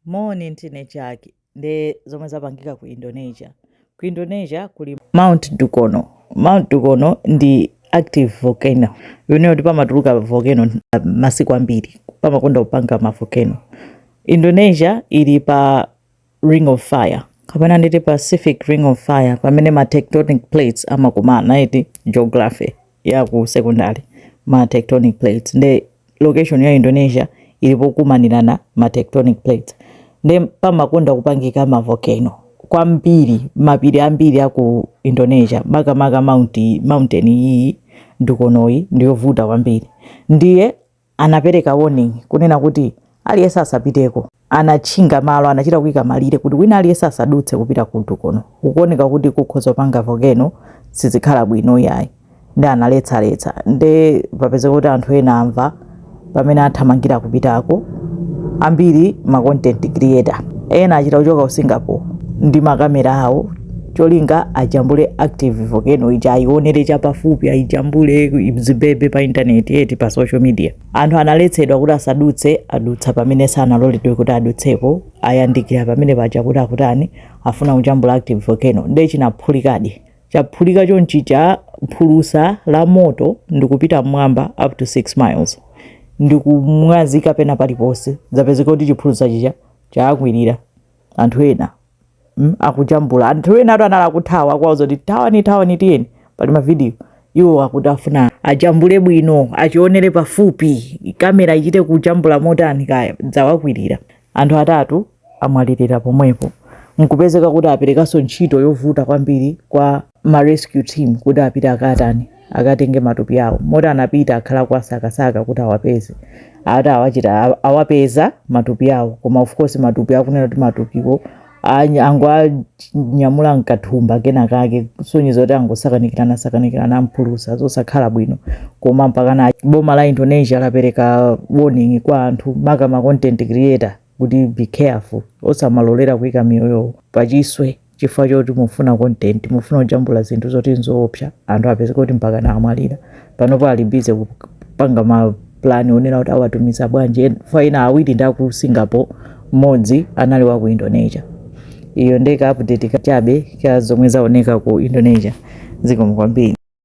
Moni ndine Jack nde zomwe zapangika ku Indonesia ku Indonesia kuli Mount Dukono Mount Dukono ndi active volcano kunena kuti pamatuluka volcano uh, masiku ambiri pamakonda kupanga ma volcano Indonesia ili pa ring of fire kapena nditi Pacific ring of fire pamene ma tectonic plates amakumana eti geography ya ku secondary ma tectonic plates nde location ya Indonesia ili pokumanirana ma tectonic plates nde pamakonda kupangika ma volcano kwambiri mapiri ambiri a ku Indonesia makamaka mount mountain iyi Dukonoyi ndiyovuta kwambiri ndiye anapereka warning kunena kuti aliyense asapiteko. Anatchinga malo, anachita kuika malire kuti wina aliyense asadutse kupita ku Dukono. Kukuoneka kuti kukhoza kupanga volcano, sizikhala bwino iyayi. Nde analetsa letsa. Nde zapezeka kuti anthu ena amva amene athamangira kupitako. Ambiri ma content creator. Ena achita kuchoka ku Singapore ndi makamera awo. cholinga ajambule active volcano ija ayionere chapafupi ayijambule zibebe pa intaneti eti pa social media anthu analetsedwa kuti asadutse adutsa pamene sanaloledwe kuti adutsepo ayandikira pamene paja kuti akutani afuna kujambula active volcano nde chinaphulikadi chaphulika chonchi chiphulusa cha moto ndikupita mmwamba up to 6 miles ndikumwazika pena paliponse zapezeka kuti chiphulusa chija chakwirira anthu ena mm, akujambula anthu ena atatu anali akuthawa akuwauza kuti thawani thawani tiyeni pali mavidiyo iwo akuti afuna ajambule bwino achionere pafupi kamera ichite kujambula motani kaya chawakwirira anthu atatu amwalirira pomwepo nkupezeka kuti aperekanso ntchito yovuta kwambiri kwa ma rescue team kuti apite akatani akatenge matupi awo moti anapita akhala akuwasakasaka kuti awapeze ati awachita aw- awapeza matupi awo koma of course matupi akunena kuti matupiwo any- angowanyamula mkathumba kena kake kusonyeza kuti angosakanikirana sakanikirana ndi phulusa zosakhala bwino koma mpakana boma la indonesia lapereka warning kwa anthu maka ma content creator kuti be careful osamalolera kuika miyoyo pachiswe chifukwa choti mufuna content mufuna kujambula zinthu zoti nzoopsa anthu apezeka kuti mpakana amwalira panopo ali bize kupanga mapulani onena kuti awatumiza bwanji En- fa ena awiri ndi aku singapore mmodzi anali wa ku indonesia iyo ndeka update kachabe ka zomwe zaoneka ku indonesia zikomo kwambiri